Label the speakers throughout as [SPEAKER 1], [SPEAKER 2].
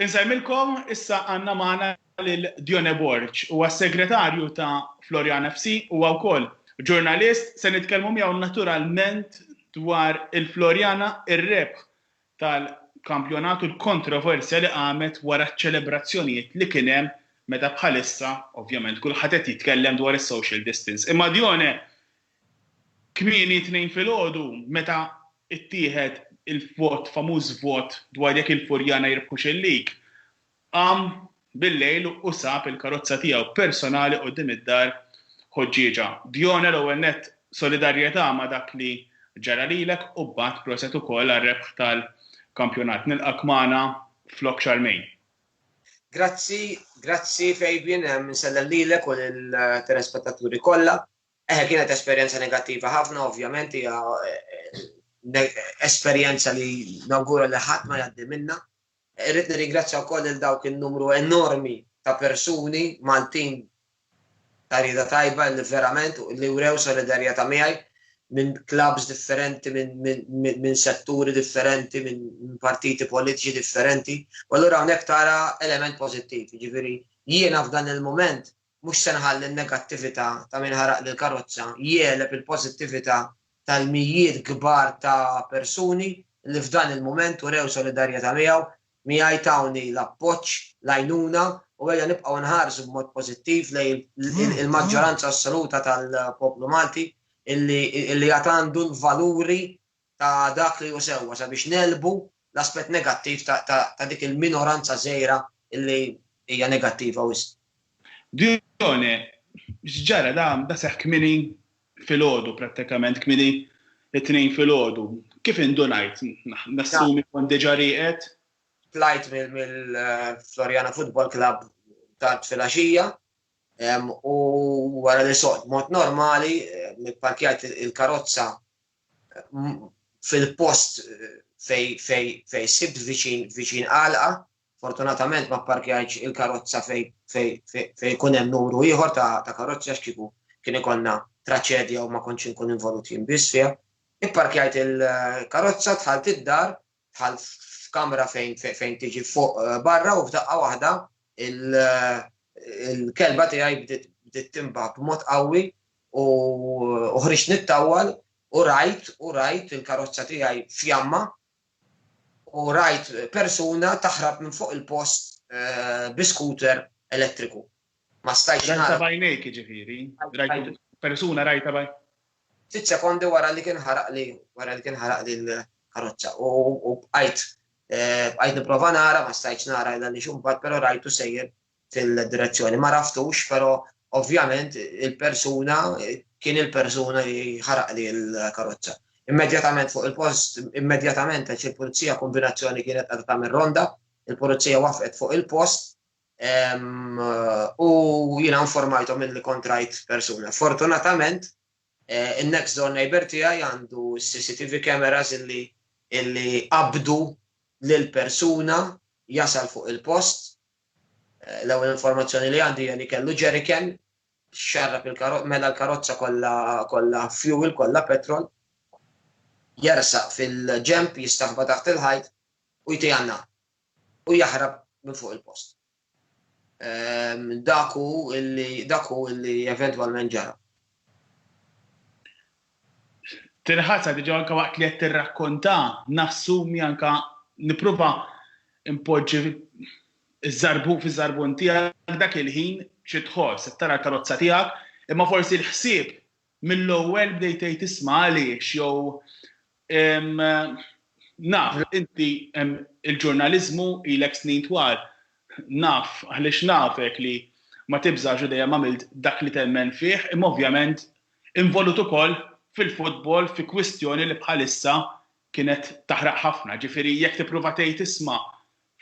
[SPEAKER 1] Insellmilkom, issa għandna magħna lil Dione Borg. Huwa s-segretarju ta' Floriana FC, huwa wkoll ġurnalist, se nitkellmu miegħu naturalment dwar il-Floriana, ir-rebħ tal-kampjonat u l-kontroversja li qamet wara ċ-ċelebrazzjonijiet li kien hemm meta bħalissa, ovvjament, kulħadd qed jitkellem dwar is-social distance. Imma Dione, Kmieni t-Tnejn filgħodu, meta ttieħed il-vot, famuż vot dwar jekk il-Furjana jirbħux il-League, qam bil-lejl u sab il-karozza tiegħu personali quddiem id-dar Ħoġġieġa. Dione, l-ewwel nett solidarjetà ma' dak li ġara lilek u mbagħad proset ukoll għar-rebħ tal-kampjonat. Nilqgħek magħna f'Lok Xarmejn. Grazzi,
[SPEAKER 2] grazzi Fabian, insellem lilek u lill-telespettaturi kollha. Eħe, kienet esperjenza negattiva ħafna, ovvjament, hija esperjenza li nawgura li ħadd ma jgħaddi minna. Irrid nirringrazzja wkoll il dawk in-numru enormi ta' persuni Maltin ta' rieda tajba li verament li wrew solidarjetà miegħi minn klabs differenti, minn setturi differenti, minn partiti politiċi differenti, u allura hawnhekk tara element pożittiv. Jiġifieri jiena f'dan il-mument Mhux se nħalli n-negattività ta' min ħaraq lill-karozza jegħleb il-pożittività tal-mijiet kbar ta' persuni li f'dan il-mument urew solidarjetà miegħu, miegħi tawni l-appoġġ, l-għajnuna u ejja nibqgħu nħarsu b'mod pożittiv lejn il-maġġoranza assoluta tal-poplu Malti li għad għandu l-valuri ta' dak li hu sewwa sabiex negħlbu l-aspett negattiv ta' dik il-minoranza żgħira li hija negattiva wisq. Dione,
[SPEAKER 1] X'ġara? Da seħħ kmieni filgħodu prattikament, kmieni t-Tnejn filgħodu. Kif indunajt? Nassumi kont diġà rieqed? Tlajt
[SPEAKER 2] mill-Floriana Football Club tard filgħaxija u wara li soqt b'mod normali, pparkjajt il-karozza fil-post fejn sibt viċin għalqa, fortunatament ma pparkjajtx il-karozza fejn ikun hemm numru ieħor ta' karozzi għax kieku kien ikollna traċedja u ma kontx inkun involut jien biss fiha. Ipparkjajt il-karozza, dħalt id-dar bħal f'kamra fejn fejn tiġi fuq eh, barra u f'daqqa waħda eh, il-kelba tiegħi bdiet timba b'mod qawwi u ħriġt nittawwal u rajt u rajt il-karozza tiegħi fjamma u rajt persuna taħrab minn fuq il-post eh, bi scooter elettriku. Ma stajtx nara. Rajta b'għajnejk jiġifieri?
[SPEAKER 1] Rajtu persuna rajta b'għajnejk? Ftit sekondi
[SPEAKER 2] wara li kien ħaraqli wara li kien ħaraqli l-karozza u bqajt eh, bqajt nipprova nara ma stajtx nara illa li xumbat però rajtu sejjer fil-direzzjoni. Ma raftux però ovvjament il-persuna kien il-persuna li ħaraqli l-karozza. Immedjatament fuq il-post, immedjatament għax il-pulizija kombinazzjoni kienet għadha tagħmel ronda, il-pulizija wafqet fuq il-post U jiena informajthom illi kont rajt persuna. Fortunatament, eh, in-next door neighbor tiegħi għandu CCTV cameras illi illi qabdu lil persuna jasal fuq il-post. Eh, l-ewwel informazzjoni li għandi li kellu ġeriken xarrab il-karozza, mela l-karozza kollha kollha fuel, kollha petrol, jersaq fil-ġemp jistaħba taħt il-ħajt u jtijanna. u jaħrab minn fuq il-post. Dak hu illi dak hu illi eventwalment ġara.
[SPEAKER 1] Tirħasha diġà anke waqt li qed tirrakkonta, nassumi anke nipprova npoġġi ż-żarbun fiż-żarbun tiegħek dak il-ħin xi tħoss, qed tara l-karozza tiegħek, imma forsi l-ħsieb Mill-ewwel bdejt tgħid isma' għaliex jew naf inti il-ġurnaliżmu ilek snin twal naf għaliex nafek li ma tibżax u dejjem għamilt dak li temmen fih imma ovvjament involut ukoll fil-futbol fi kwistjoni li bħalissa kienet taħraq ħafna ġifieri jekk tipprova tgħid isma'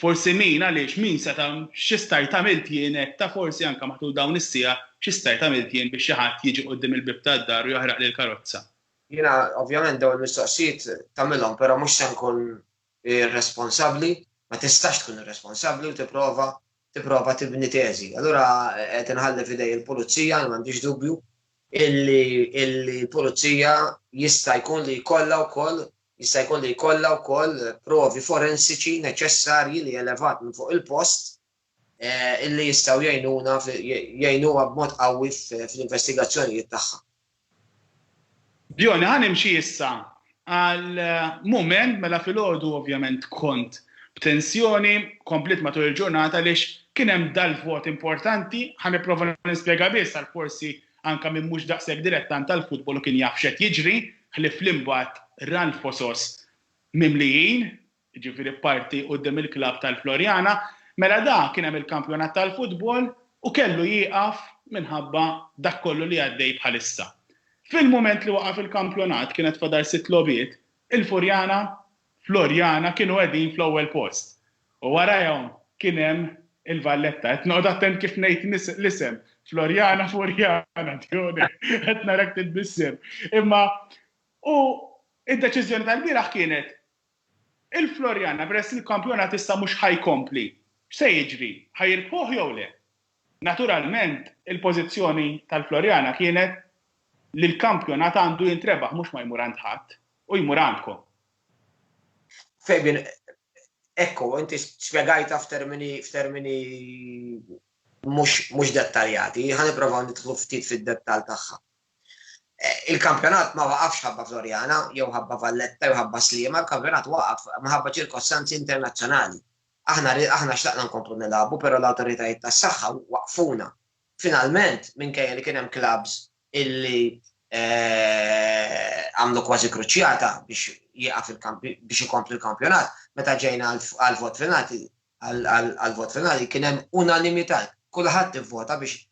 [SPEAKER 1] Forsi min, għaliex, min seta', xi stajt għamilt jien hekk, ta' forsi anke matul dawn is-siegħa, xi stajt għamilt jien biex xi ħadd jiġi quddiem il-bieb tad-dar u jaħraqli l-karozza? Jiena
[SPEAKER 2] ovvjament dawn il-mistoqsijiet tagħmilhom però mhux se nkun irresponsabbli, ma tistax tkun irresponsabbli u tipprova tipprova tibni teżi. Allura qed inħalli f'idej il-pulizija, jien m'għandix dubju, illi l-pulizija jista' jkun li jkollha wkoll Jista' jkun li jkollha wkoll provi forensiċi neċessarji li elevat minn fuq il-post illi jistgħu jgħinuna jgħinuha b'mod qawwi fl-investigazzjonijiet tagħha.
[SPEAKER 1] Bjorn, ħa nimxi issa għal mument mela filgħodu ovvjament kont b'tensjoni, kompliet matul il-ġurnata għaliex kien hemm dal-vot importanti, ħa nipprova nispjega biss għal forsi Anke min mhux daqshekk dilettant tal-futbol u kien jaf x'qed jiġri, ħlief li mbagħad ra l-fosos mimlijin, jiġifieri parti quddiem il-klabb tal-Floriana, mela da kien hemm il-kampjonat tal-futbol u kellu jieqaf minħabba dak kollu li għaddej bħalissa. Fil-mument li waqaf il-kampjonat kienet fadal sitt logħbiet, il-Furjana Floriana kienu qegħdin fl-ewwel post u warajhom kien hemm il-Valletta. Qed noqgħod attent kif ngħid l-isem, Floriana Furjana, Dione, qed narak titbissem. Imma u d-deċiżjoni tal-bieraħ kienet il-Floriana peress li l-kampjonat issa mhux ħa jkompli, x'se jiġri, ħa jirbħuh jew le? Naturalment il-pożizzjoni tal-Floriana kienet li l-kampjonat għandu jintrebaħ mhux ma jmur għand ħadd. U jmur għandkom.
[SPEAKER 2] Fabian, Ekku, inti spjegajtha f'termini mhux dettaljati, ħa nipprovaw nidħlu ftit fid-dettall tagħha. Il-kampjonat ma waqafx ħabba Floriana, jew ħabba Valletta, jew ħabba Sliema, il-kampjonat waqaf minħabba ċirkostanzi internazzjonali. Aħna aħna xtaqna nkomplu nilagħbu, però l-awtoritajiet tas-saħħa waqfuna. Finalment, minkejja li kien hemm klabbs illi għamlu kważi kruċjata biex jieqaf il-kampi biex ikompli l-kampjonat, meta ġejna għall-vot finali għall-vot finali kien hemm unanimità. Kulħadd ivvota biex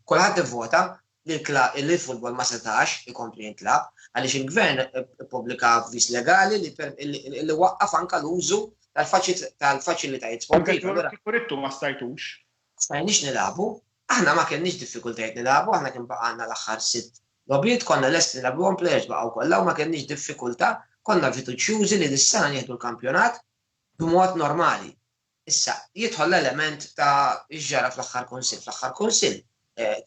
[SPEAKER 2] kulħadd ivvota li l-futbol ma setax ikompli jintlagħab għaliex il-Gvern ippubblika avviż legali li waqqaf anke l-użu tal-faċilitajiet sportivi. Anke l-kloret kieku ridtu ma stajtux.
[SPEAKER 1] Stajniex nilagħbu.
[SPEAKER 2] Aħna ma kellniex diffikultajiet nilagħbu, aħna kien baqgħalna l-aħħar sitt logħbiet, konna lesti nilagħbuhom players baqgħu kollha u ma kellniex diffikultà, konna fiduċjużi li dis-sena nieħdu l-kampjonat b'mod normali. Issa, jidħol l-element ta' x'ġara fl-aħħar kunsill. Fl-aħħar kunsill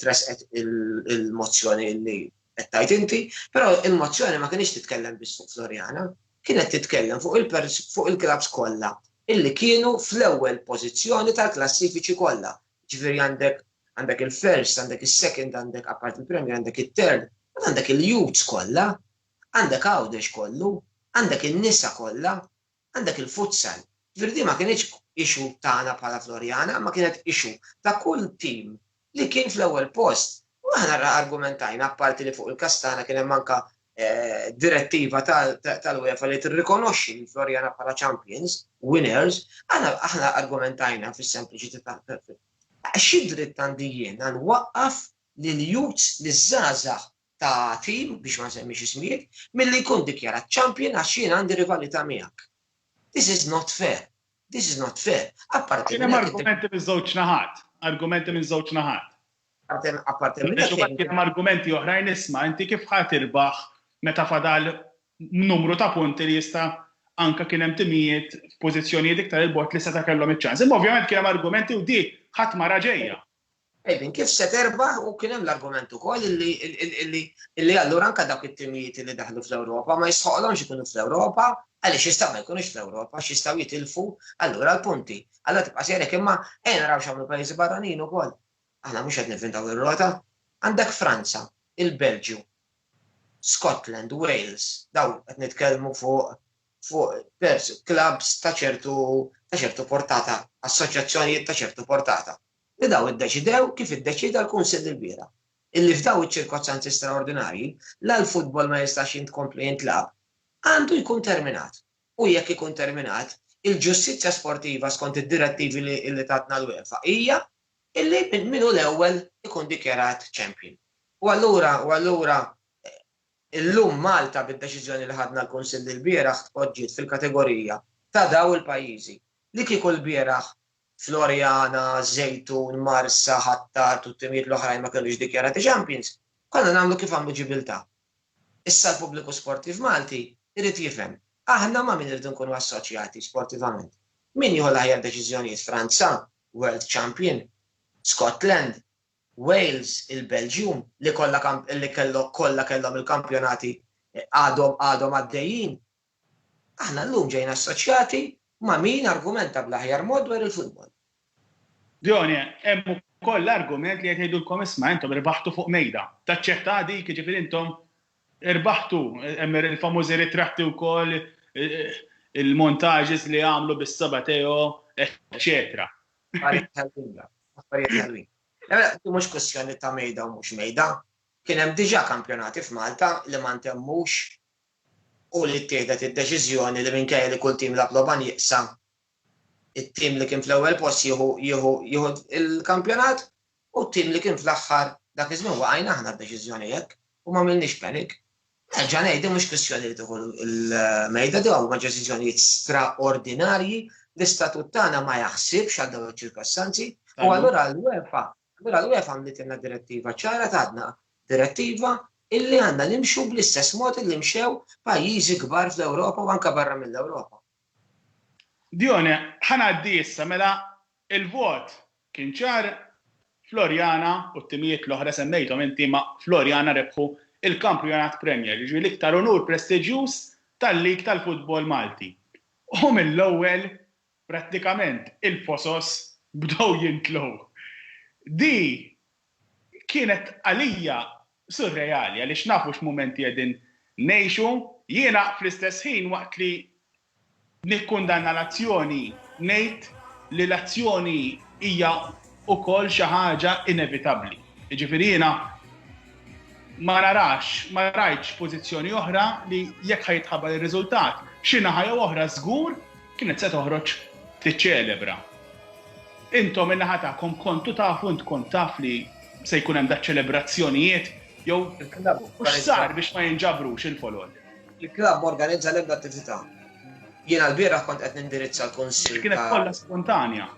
[SPEAKER 2] tressqet il-mozzjoni li qed tgħid inti, però il-mozzjoni ma kienx titkellem biss fuq Floriana, kienet titkellem fuq il-klabbs kollha illi kienu fl-ewwel pożizzjoni tal-klassifiċi kollha, jiġifieri għandek għandek il-first, għandek is-second, għandek apart il-Premier, għandek it-third, mbagħad għandek il-youths kollha, għandek Għawdex kollu, għandek in-nisa kollha, għandek il-futsal. Jiġifieri din ma kinitx issue tagħna bħala Floriana, imma kienet issue ta' kull tim li kien fl-ewwel post. U aħna ra argumentajna, apparti li fuq il-każ tagħna kien hemm anke direttiva tal-UEFA li tirrikonoxxi lil Floriana bħala champions, winners, aħna argumentajna fis-sempliċità ta' xi dritt għandi jien għal waqqaf lil youths li żgħażagħ ta' tim, biex ma nsemmix ismijiet, milli jkun dikjarat champion għax jien għandi rivalità miegħek. This is not fair. This is not fair. Apparti minn hekk. Kien hemm argumenti
[SPEAKER 1] miż-żewġ naħat. Argumenti minn żewġ naħat. Apparti
[SPEAKER 2] minn hekk. Kien hemm argumenti oħrajn
[SPEAKER 1] isma' inti kif ħa tirbaħ meta fadal numru ta' punti li jista' anke kien hemm timijiet f'pożizzjonijiet iktar 'il bogħod li seta' kellhom iċ-ċans. Imma ovvjament kien hemm argumenti u di ħadd ma ra ġejja. Qegħdin kif
[SPEAKER 2] se terbaħ u kien hemm l-argument ukoll illi allura anke dawk it-timijiet li daħlu fl-Ewropa ma jistħoqlhomx ikunu fl-Ewropa għaliex jistgħu ma jkunux fl-Ewropa għax jistgħu jitilfu allura l-punti. Allura tibqa' sejrek imma ejja naraw x'għamlu pajjiżi barranin ukoll. Aħna mhux qed nivvintaw ir-rota. Għandek Franza, il-Belġju, Scotland, Wales, dawn qed nitkellmu fuq fuq pers clubs ta' ċertu ta' ċertu portata, assoċjazzjonijiet ta' ċertu portata. li dawn iddeċidew kif iddeċieda l-Kunsill ilbieraħ, illi f'dawn iċ-ċirkostanzi straordinarji la l-futbol ma jistax jintkompla jintlagħab, għandu jkun terminat u jekk ikun terminat, il-ġustizzja sportiva skont id-direttivi li tatna l-UEFA hija illi min hu l-ewwel ikun dikjarat champion. U allura, u allura, illum Malta bid-deċiżjoni li ħadna l-Kunsill ilbieraħ tpoġġiet fil-kategorija ta' dawn il-pajjiżi li kieku lbieraħ Floriana, Żejtun, Marsa, Ħ'Attar u t-timijiet l-oħrajn ma kinux dikjarati champions, konna nagħmlu kif għamlu Ġibiltà. Issa l-pubbliku sportiv Malti jrid jifhem, aħna ma' min irridu nkunu assoċjati sportivament? Min jieħu l-aħjar deċiżjonijiet, Franza, world champion, Scotland, Wales, il-Belġium li kollha li kellhom kollha kellhom il-kampjonati għadhom għadhom għaddejjin Aħna llum ġejna assoċjati ma' min argumenta bl-aħjar mod dwar il-futbol.
[SPEAKER 1] Dione, Hemm ukoll l-argument li qed jgħidulkom isma' intom irbaħtu fuq mejda. Taċċettaha dik, jiġifieri intom irbaħtu, hemm il-famużi ritratti wkoll, il-montages li għamlu bis-saba' Teo, eċċetera. Affarijiet ħelwin dawn,
[SPEAKER 2] affarijiet ħelwin. Le le, din mhux kwistjoni ta' mejda u mhux mejda. Kien hemm diġà kampjonati f'Malta li ma ntemmux u li ttieħdet id-deċiżjoni li minkejja li kull tim lagħab logħba nieqsa, it-tim li kien fl-ewwel post jieħu jieħu jieħu l-kampjonat u t-tim li kien fl-aħħar, dak iż-żmien waqajna aħna d-deċiżjoni hekk u m'għamilniex panic. Nerġa' ngħid din mhux kwistjoni li tieħu l-mejda, dawn huma deċiżjonijiet straordinarji, l-istatut tagħna ma jaħsibx għal dawn iċ-ċirkostanzi u allura l-UEFA Allura l-UEFA għamlitilna direttiva ċara tatna direttiva illi għandna nimxu bl-istess mod illi mxew pajjiżi kbar fl-Ewropa u anke barra mill-Ewropa.
[SPEAKER 1] Dione, ħa ngħaddi issa mela l-vot kien ċar, Floriana u t-timijiet l-oħra semmejthom inti ma' Floriana rebħu l-Kampjonat Premier, jiġifieri l-iktar unur prestiġjuż tal-League tal-Futbol Malti. U mill-ewwel prattikament il-fosos bdew jintlew. Di kienet għalija surreali għaliex nafu x'mumenti qegħdin ngħixu. Jiena fl-istess ħin waqt li nikkundanna l-azzjoni ngħid li l-azzjoni hija ukoll xi ħaġa inevitabbli. Jiġifieri jiena ma narax, ma rajtx pożizzjoni oħra li jekk ħa jitħabbar ir-riżultat, xi naħa jew oħra żgur kienet se toħroġ tiċċelebra. Intom in-naħa tagħkom kontu tafu int kont taf li se jkun hemm daċ-ċelebrazzjonijiet jew mhux sar biex ma jinġabrux il-folol. Il-klabb organizza
[SPEAKER 2] l-ebda attività. Jiena l-bieraħ kont qed nindirizza l-kunsill. Kienet kollha spontanja.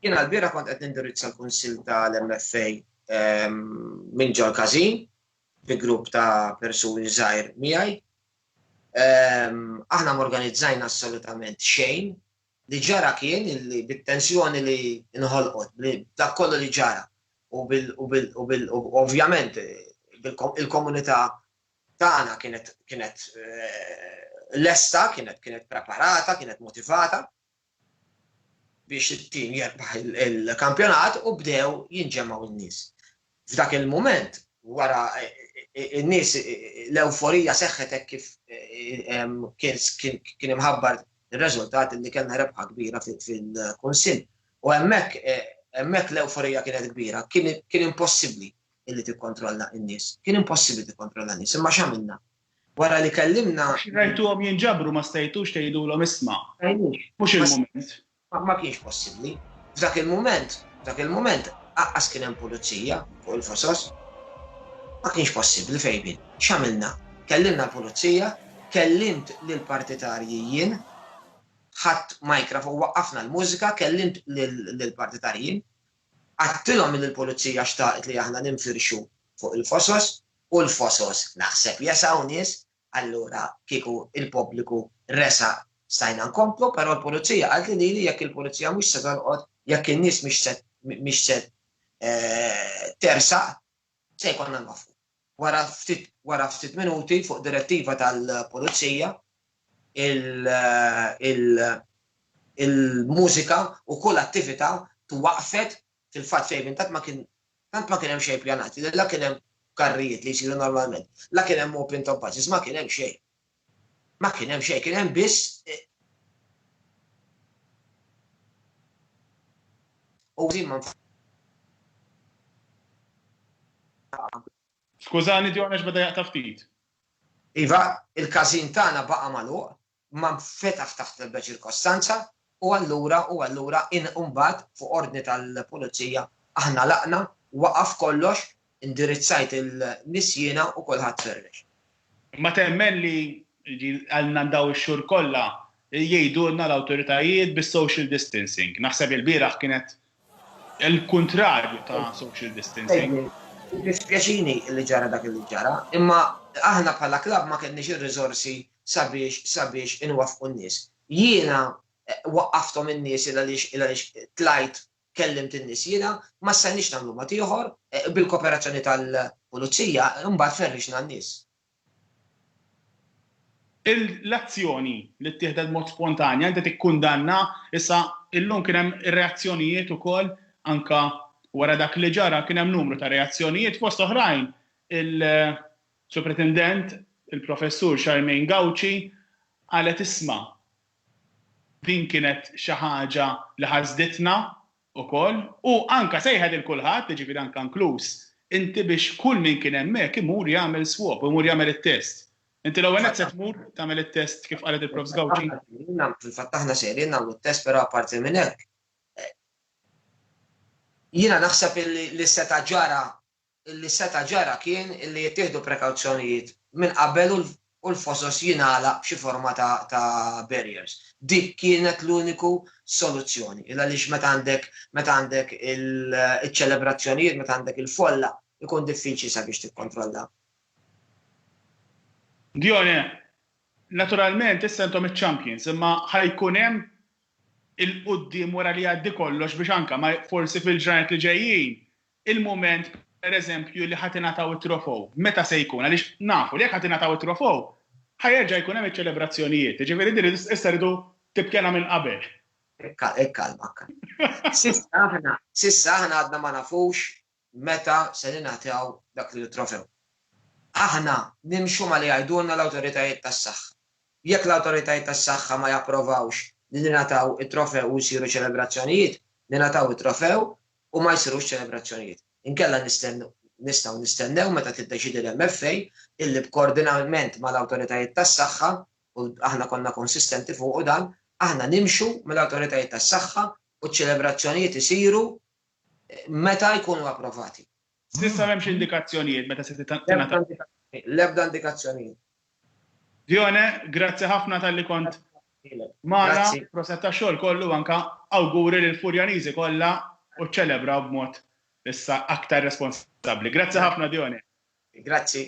[SPEAKER 1] Jiena l-bieraħ
[SPEAKER 2] kont qed nindirizza l-Kunsill tal-MFA minn ġol każin bi grupp ta' persuni żgħir miegħi. Aħna morganizzajna assolutament xejn li ġara kien li bit-tensjoni li nħolqot, dak kollu li ġara u bil ovvjament il-komunità tagħna kienet eh, lesta, kienet kienet preparata, kienet motivata, biex it-tim jirbaħ il-kampjonat u bdew jinġemgħu n-nies. F'dak il-mument, wara n-nies l-ewforija seħħet hekk kif kien imħabbar ir-reżultat li kellna rebħa kbira fil-Kunsill. U hemmhekk hemmhekk l-ewforija kienet kbira, kien impossibbli illi tikkontrolla n-nies. Kien impossibbli tikkontrolla n-nies, imma x'għamilna? Wara li kellimna. Rajtuhom jinġabru
[SPEAKER 1] ma stajtux tgħidulhom isma'. Mhux il-mument. Ma kienx
[SPEAKER 2] possibbli. F'dak il-mument, f'dak il-mument aqqas kien hemm pulizija fuq il-fosos. Ma kienx possibbli fejbin. X'għamilna? Kellimna l-pulizija, kellimt lill-partitarji jien, ħadt micraf u waqqafna l-mużika, kellimt lill-partitarji jien, għedtilhom li l-pulizija xtaqet li aħna ninfirxu fuq il-fosos, u l-fosos naħseb jesgħu nies, allura kieku l-pubbliku resaq stajna nkomplu, però l-pulizija qaltli lili jekk il-pulizija mhux se tolqot, jekk in-nies mhix se tersaq, se jkollna nwaqqfu. Wara ftit wara ftit minuti fuq direttiva tal-pulizija il-mużika u kull attività twaqqfet fil-fatt fejn intant ma kien tant ma kien hemm xejn pjanati, la kien hemm karrijiet li jsiru normalment, la kien hemm open top buses, ma kien hemm xejn. Ma kien hemm xejn, kien hemm biss eh, u zimma
[SPEAKER 1] Skużani, Dion, għax bada jaqta ftit. Iva,
[SPEAKER 2] il-kazin tagħna baqa' magħluq, ma nfetaħ taħt l-ebda ċirkostanza u allura u allura in u mbagħad fuq ordni tal-pulizija aħna għlaqna, waqaf kollox, indirizzajt in-nies jiena u kulħadd ferrex. Ma temmen
[SPEAKER 1] li għalna dawn ix-xhur kollha jgħidulna l-awtoritajiet bis-social distancing. Naħseb li l-bieraħ kienet Il-kuntrarju ta' social distancing. Jiddispjaċini
[SPEAKER 2] li ġara dak li ġara, imma aħna bħala klabb ma kellniex ir-riżorsi sabiex sabiex inwaffqu n-nies. Jiena waqqafthom in-nies il għaliex il għaliex tlajt kellimt in-nies jiena, ma stajniex nagħmlu mod ieħor, bil-koperazzjoni tal-Pulizija imbagħad ferrixna n-nies. L-azzjoni
[SPEAKER 1] li ttieħdet b'mod spontanja inti tikkundanna, issa illum kien hemm reazzjonijiet ukoll anke wara dak li ġara kien hemm numru ta' reazzjonijiet fost oħrajn il-Supretendent il-Professur Charmaine Gauci qalet isma' din kienet xi ħaġa li ħasditna ukoll, u anke sejħet lil kulħadd, jiġifieri anke inkluż inti biex kull min kien hemmhekk imur jagħmel swab, imur jagħmel it-test. Inti l-ewwel nett se tmur tagħmel it-test kif qalet il-Prof. Sgawċi? Fil-fatt aħna
[SPEAKER 2] sejrin nagħmlu t-test però apparti minn hekk jiena naħseb li seta' ġara li seta' ġara kien li jittieħdu prekawzjonijiet minn qabel u l-fosos jingħalaq b'xi forma ta' barriers. Dik kienet l-uniku soluzzjoni. Il-għaliex meta għandek meta għandek iċ-ċelebrazzjonijiet, meta għandek il-folla, ikun diffiċli sabiex tikkontrolla.
[SPEAKER 1] Dione, Naturalment issa intom iċ-champions imma ħa jkun hemm 'il quddiem wara li jgħaddi kollox biex anke ma forsi fil-ġranet li ġejjin il-mument, pereżempju, li ħa tingħataw it-trofew, meta se jkun, għaliex nafu li jekk ħa tingħataw it-trofew, ħa jerġa' jkun hemm iċ-ċelebrazzjonijiet, jiġifieri din issa rridu tibkiena minn qabel. Ikkalmak.
[SPEAKER 2] S'issa aħna għadna ma nafux meta se ningħataw dak il-trofew. Aħna nimxu ma' li jgħidulna l-awtoritajiet tas-saħħa. Jekk l-awtoritajiet tas-saħħa ma japprovawx li ningħataw it-trofew u jsiru ċelebrazzjonijiet, ningħataw it-trofew u ma jsirux ċelebrazzjonijiet. Inkella nistgħu nistennew meta tiddeċiedi l-MFA illi b'koordinament mal-awtoritajiet tas-saħħa, u aħna konna konsistenti fuqu dan, aħna nimxu mal-awtoritajiet tas-saħħa u ċ-ċelebrazzjonijiet isiru meta jkunu approvati. S'issa m'hemmx
[SPEAKER 1] indikazzjonijiet meta se tingħata.
[SPEAKER 2] L-ebda indikazzjonijiet.
[SPEAKER 1] Dione, grazzi ħafna talli kont magħna, proset tax-xogħol kollu anke awguri lill-Furjaniżi kollha u ċċelebraw b'mod issa aktar responsabbli.
[SPEAKER 2] Grazzi
[SPEAKER 1] ħafna Dione. Grazzi.